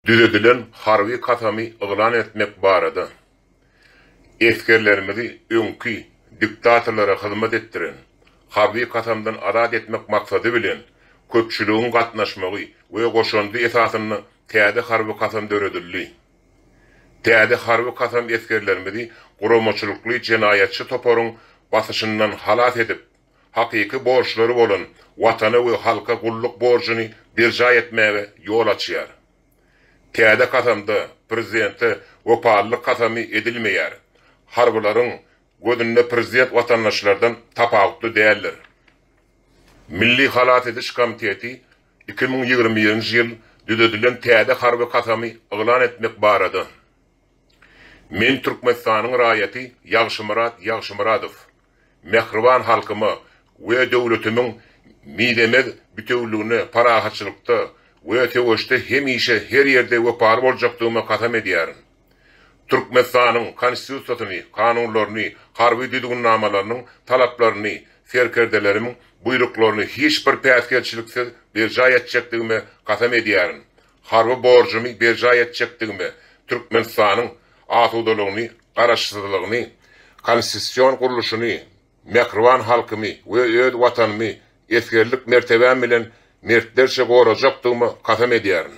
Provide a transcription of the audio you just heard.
Düzedilen harby kasamy yglan etmek barada esgerlerimizi öňki diktatorlara hyzmat etdiren harby kasamdan azat etmek maksady bilen köpçüligiň gatnaşmagy we goşandy esasynda täze harby kasam döredildi. Täze harby kasam esgerlerimizi guramaçylykly jenaýatçy toparyň basyşyndan halas edip, hakyky borçlary bolan Watana we halka gulluk borjuny berjaý etmäge ýol açýar. Täze kasamda prezidente wepalylyk kasamy edilmeýär, harbylaryň gözünde prezident watandaşlardan tapawutly däldir. Milli halas ediş komiteti iki müň ýigrimi birinji ýyl düzedilen täze harby kasamy yglan etmek barada Men Türkmenistanyň raýaty Ýagşymyrat Ýagşymyradow. mähriban halkyma we döwletimiň mizemez bitewüligine parahatçylykda we söweşde hemişe her ýerde wepaly boljakdygyma kasam edýärin. Türkmenistanyň Konstitusiýasyny, kanunlaryny, harby düzgünnamalarynyň talaplaryny, serkerdelerimiň buýruklaryny hiç bir päsgelçiliksiz berjaý etjekdigime kasam edýärin. Harby borjumy berjaý etjekdigime, Türkmenistanyň asudalygyny, garaşsyzlygyny, konstitusion gurluşyny, mähriban halkymy we öz Watanymy esgerlik mertebäm bilen mertlerçe gorajakdygyma kasam edýärin.